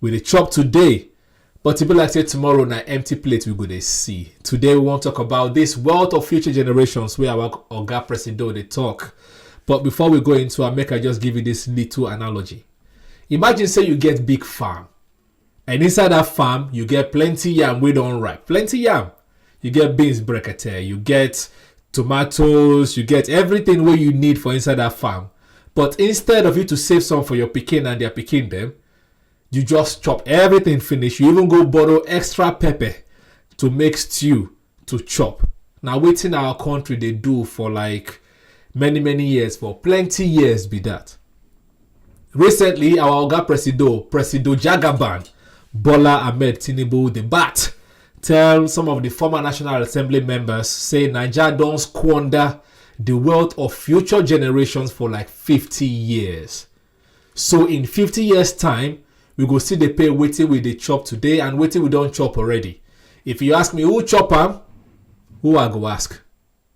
we dey chop today but e be like say tomorrow na empty plate we go dey see today we wan talk about this wealth of future generations wey our oga presido dey talk but before we go into am make i just give you this little analogy imagine say you get big farm and inside that farm you get plenty yam wey don ripe plenty yam you get beans brekete you get tomatoes you get everything wey you need for inside that farm but instead of you to save some for your pikin and their pikin dem you just chop everything finish you even go borrow extra pepper to make stew to chop na wetin our country dey do for like many many years for plenty years be that. Recently, our Oga Presido, Presido Jagaban, Bola Ahmed Tinubu, the bat, tell some of the former National Assembly members, say Niger don't squander the wealth of future generations for like 50 years. So in 50 years time, we go see the pay waiting with the chop today and waiting we don't chop already. If you ask me who chop am, who I go ask?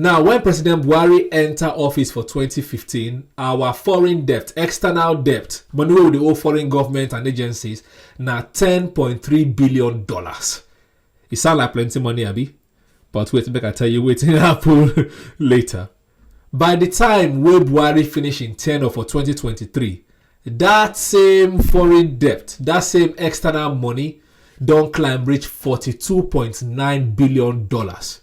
Now, when President Buhari enter office for 2015, our foreign debt, external debt, money with the old foreign government and agencies, now 10.3 billion dollars. It sound like plenty money, Abby, but wait, make I tell you waiting happen later. By the time wey Buhari finish in tenure for 2023, that same foreign debt, that same external money, don climb reach 42.9 billion dollars.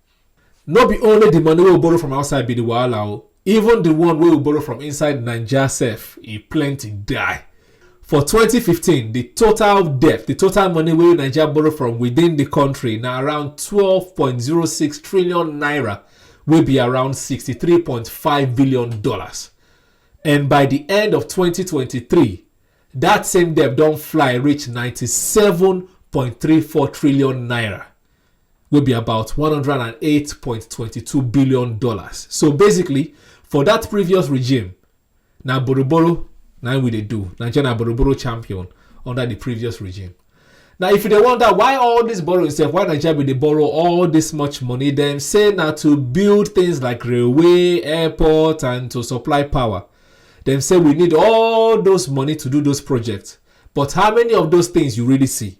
no be only the money wey we borrow from outside be the wahala o even the one wey we borrow from inside naija sef e plenty die for 2015 the total debt the total money wey naija borrow from within the country na around 12.06 trillion naira wey be around 63.5 billion dollars and by the end of 2023 that same debt don fly reach 97.34 trillion naira wey be about $108.22 billion. So basically, for that previous regime, na boroboro na we dey do. Nigeria na boroboro champion under the previous regime. Now, if you dey wonder why all this borrowing sef, why Nigeria bin dey borrow all this much money, dem say na to build things like railway, airport, and to supply power. Dem say we need all those money to do those projects. But how many of those things you really see?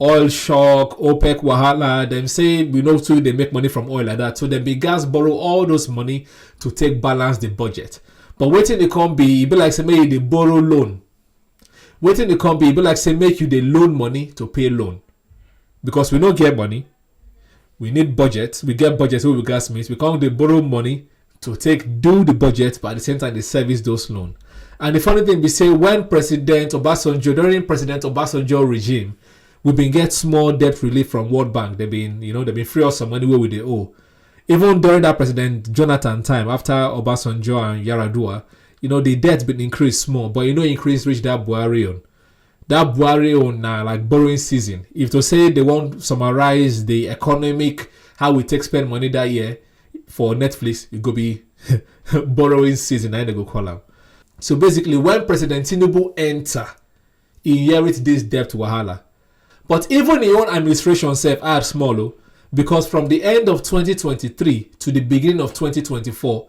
oil shock opec wahala dem say we no too dey make money from oil like that so dem bin gas borrow all those money to take balance the budget but wetin dey come be e be like say make you dey borrow loan wetin dey come be e be like say make you dey loan money to pay loan because we no get money we need budget we get budget wey we gats meet we come dey borrow money to take do the budget but at the same time dey service those loan and the funny thing be say when president obasanjo during president obasanjo regime we bin get small debt relief from world bank they bin you know they bin free us some money wey we dey owe even during that president jonathan time after obasanjo and yaradua you know the debt bin increase small but e no increase reach that buhari own that Buhari own na like borrowing season. If to say they wan summarize the economic how we take spend money that year for Netflix, it go be borrowing season. Na im dem go call am. So basically, when President Tinubu enter, he inherit this debt wahala. But even im own administration sef add small o, because from the end of 2023 to the beginning of 2024,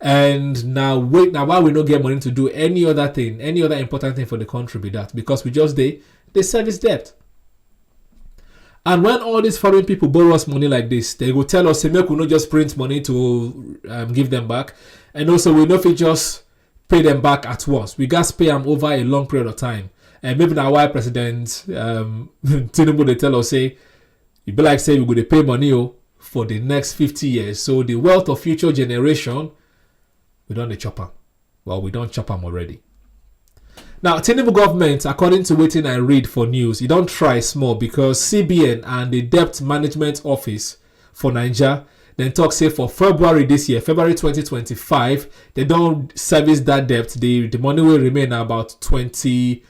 and now wait now why we no get money to do any other thing any other important thing for the country be that because we just they they service debt and when all these foreign people borrow us money like this they will tell us say make we no just print money to um, give them back and also we no fit just pay them back at once we gas pay them over a long period of time and maybe now why president um, tinubu they tell us say e be like say we go dey pay money o for the next fifty years so the wealth of future generation we don dey chop am well we don chop am already now tinubu government according to wetin i read for news e don try small because cbn and the debt management office for naija dem talk say for february this year february 2025 dem don service that debt the the money wey remain na about 20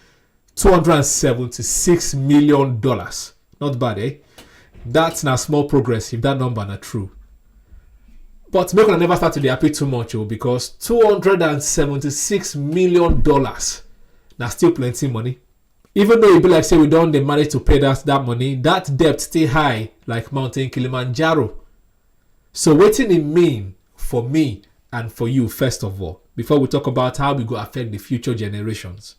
276 million dollars not bad eh that's na small progress if that number na true but make una never start to dey happy too much o oh, because 276 million dollars na still plenty money even though e be like say we don dey manage to pay that that money that debt still high like mountain kilimanjaro so wetin e mean for me and for you first of all before we talk about how we go affect the future generations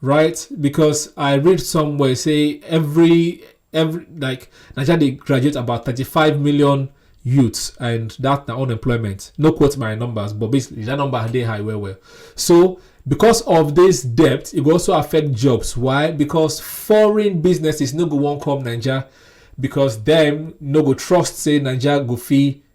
right? Because I read somewhere say every every like Nigeria they graduate about 35 million youths and that now unemployment. No quote my numbers, but basically that number they high well well. So because of this debt, it will also affect jobs. Why? Because foreign businesses no go won't come Nigeria because them no go trust say Nigeria go fee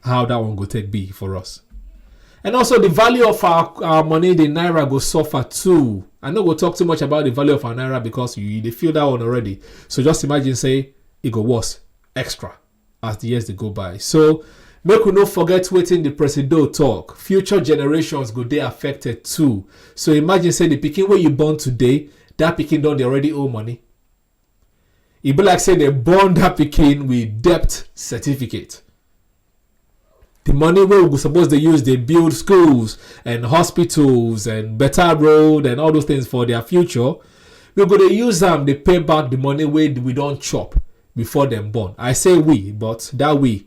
how that one go take be for us and also the value of our, our money the naira go suffer too i no go talk too much about the value of our naira because you dey feel that one already so just imagine say e go worse extra as the years dey go by so make we no forget wetin the presido talk future generations go dey affected too so imagine say the pikin wey you born today that pikin don dey already owe money e be like say dem born that pikin with debt certificate the money wey we suppose dey use dey build schools and hospitals and better road and all those things for their future we go dey use am dey pay back the money wey we don chop before dem born i say we but that we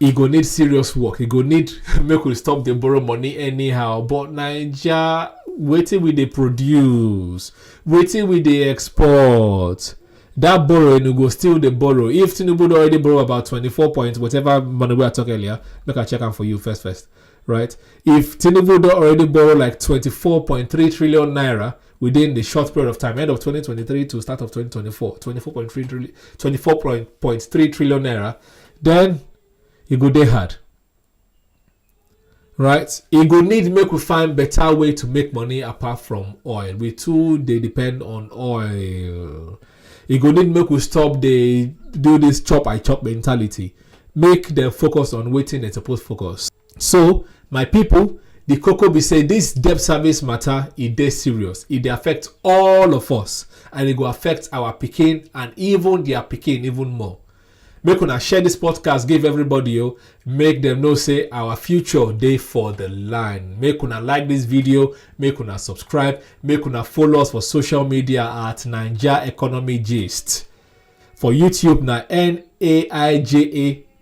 e go need serious work e go need make we stop dey borrow money anyhow but naija wetin we dey produce wetin we dey export that borrowing we go still dey borrow if tinubu don already borrow about twenty-four point whatever money wey i talk earlier make i check am for you first first right if tinubu don already borrow like twenty-four point three trillion naira within the short period of time, end of 2023 to start of 2024, 24.3 24.3 trillion naira, then it go day hard. Right? It go need make we find better way to make money apart from oil. We too they depend on oil. It go need make we stop the do this chop I chop mentality. Make them focus on waiting and suppose focus. So, my people, the cocoa be say this debt service matter e dey serious. E dey affect all of us and e go affect our pikin and even their pikin even more. Make una share this podcast give everybody o. Make them know say our future dey for the line. Make una like this video, make una subscribe, make una follow us for social media at Naija Economy Gist. For YouTube na N A I J A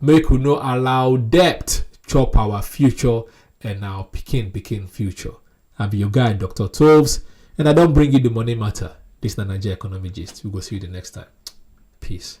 Make we no allow debt chop our future and our pikin pikin future. I be your guy, Dr. Toves, and I don't bring you the money matter. This na Nigeria Economy Gist. We go see you the next time. Peace.